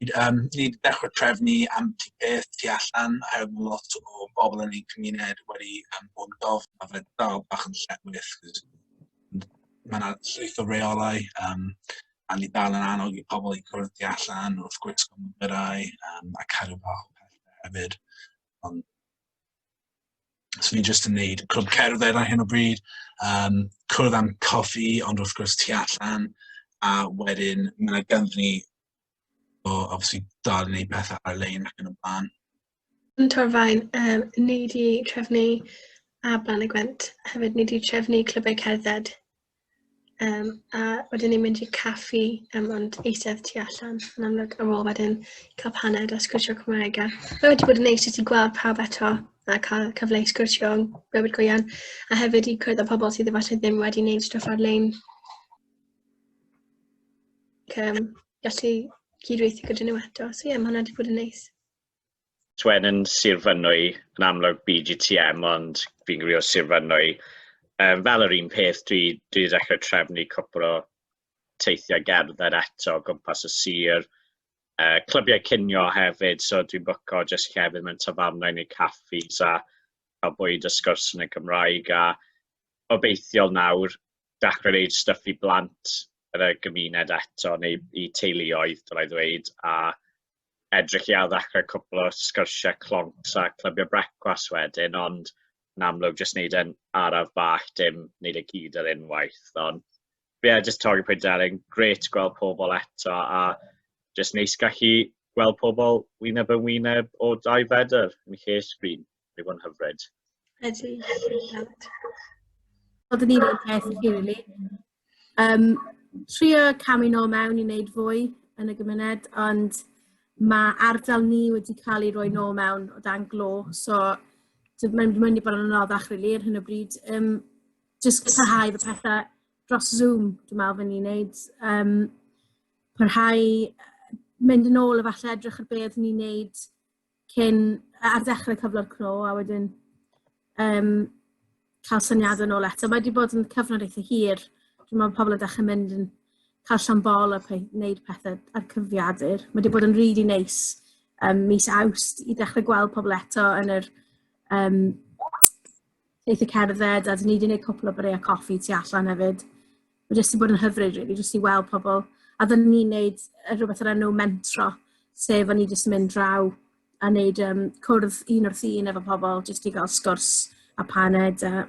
Yym, ni wedi dechrau trefnu ambell i beth tu allan, oherwydd mae lot o bobl yn ein cymuned wedi um, bod yn gofyn, a fe dal bach yn lletwith, cos mae yna llwyth o reolau, um, a ni dal yn annog i pobl i cwrdd tu allan wrth gwisgo mwyrai um, a cadw bach o pethau hefyd. Ond So ni jyst yn neud clwb cerdded ar hyn o bryd, um, cwrdd am coffi, ond wrth gwrs tu allan, a wedyn mae yna gynddyn ni So, obviously, dal yn gwneud pethau ar-lein ac yn y blaen. Yn Torfaen, um, ni wedi trefnu a Blan y Gwent hefyd, ni wedi trefnu clybau cerdded. Um, a wedyn ni'n mynd i'r caffi, um, ond eistedd tu allan, yn amlwg ar ôl wedyn cael paned a sgwrsio Cymraeg. A fe wedi bod yn neis i ti gweld pawb eto a cael cyfle i sgwrsio yn bywyd go iawn, a hefyd i cwrdd â pobl sydd efallai ddim wedi wneud stwff ar-lein um, gallu cydweithio gyda nhw eto. So ie, yeah, mae hwnna wedi bod yn neis. Twen yn Sir Fynwy, yn amlwg BGTM, ond fi'n gwybod o Sir Fynwy. Um, fel yr un peth, dwi, dwi wedi dechrau trefnu cwpl o teithiau gerdded eto gwmpas y sir. Uh, clybiau cinio hefyd, so dwi'n bwco jyst llefydd mewn tafarnau neu caffis a cael bwyd y sgwrs yn y Gymraeg. A obeithiol nawr, dechrau wneud stuff i blant yn y gymuned eto, neu i teuluoedd, dylai ddweud, a edrych i addechrau cwpl o sgyrsiau cloncs a clybiau brecwas wedyn, ond yn amlwg jyst wneud e'n araf bach, dim wneud e gyd ar unwaith. Ond ie, yeah, jyst torri pwynt ar ein gret gweld pobl eto a jyst neis gallu gweld pobl wyneb yn wyneb o dau fedr yn lle sgrin. Mae hwn hyfryd. Ydy. Oedden ni'n ei peth i really. Um, trio camu nôl mewn i wneud fwy yn y gymuned, ond mae ardal ni wedi cael ei roi nôl mewn o dan glo, so mae'n mynd i bod yn anoddach rili ar hyn o bryd. Um, just parhau fy pethau dros Zoom, dwi'n meddwl fy ni'n neud. Um, parhau mynd yn ôl efallai edrych ar beth ni'n neud cyn, ar ddechrau cyflog clo, a wedyn um, cael syniad yn ôl eto. Mae wedi bod yn cyfnod eitha hir. Dwi'n meddwl pobl yn dechrau mynd yn cael llan bol a pe wneud pethau ar cyfriadur. Mae wedi bod yn rili really neis um, mis awst i ddechrau gweld pobl eto yn yr um, teithio cerdded, a dyn ni wedi gwneud cwpl o byreu coffi tu allan hefyd. Mae jyst wedi bod yn hyfryd, really, jyst i weld pobl. A dyn ni'n gwneud rhywbeth o'r enw mentro, sef o'n i jyst yn mynd draw a wneud um, cwrdd un wrth un efo pobl, jyst i gael sgwrs a paned. A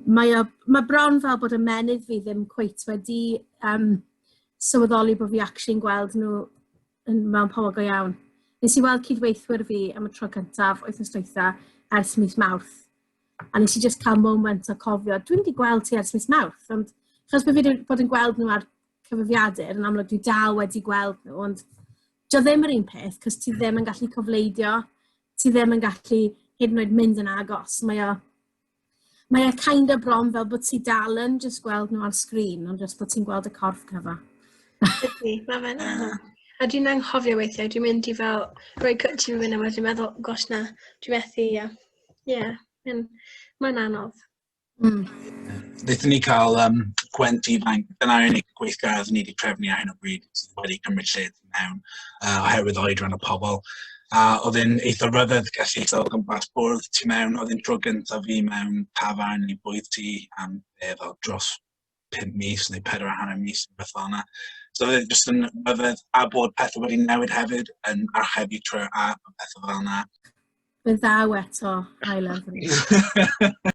mae, o, mae bron fel bod y menydd fi ddim cweit wedi um, sylweddoli bod fi actually'n gweld nhw yn mewn pobl go iawn. Nes i weld cydweithwyr fi am y tro cyntaf wythnos dwytha ers mis Mawrth. A nes i just cael moment o cofio, dwi'n wedi gweld ti ers mis Mawrth, ond chos bod fi wedi bod yn gweld nhw ar cyfrifiadur, yn amlwg dwi dal wedi gweld nhw, ond dio ddim yr un peth, cos ti ddim yn gallu cofleidio, ti ddim yn gallu hyd yn oed mynd yn agos. Mae o Mae e kind of bron fel bod ti dal yn just gweld nhw ar sgrin, ond just bod ti'n gweld y corff cyfa. Ydy, mae fe'n anodd. A dwi'n anghofio weithiau, dwi'n mynd i fel rhoi cut ti'n mynd yma, dwi'n meddwl, gosh na, dwi'n methu, ia. Ie, mae'n anodd. Mm. Nethon ni cael um, gwent ifanc, dyna unig gweithgaredd ni wedi trefnu ar hyn o bryd sydd wedi cymryd lled mewn uh, oherwydd oedran y pobl. A oedd e'n eitha rhyfedd gallu sefyll o gwmpas bwrdd tu mewn. Oedd e'n tro gyntaf fi mewn tafarn neu bwyd ti am e, fel dros 5 mis neu 4 a hanner mis neu beth fel yna. So oedd e'n just yn rhyfedd a bod pethau wedi newid hefyd yn archebu trwy'r app a pethau fel yna. Fe ddaw eto, I love it.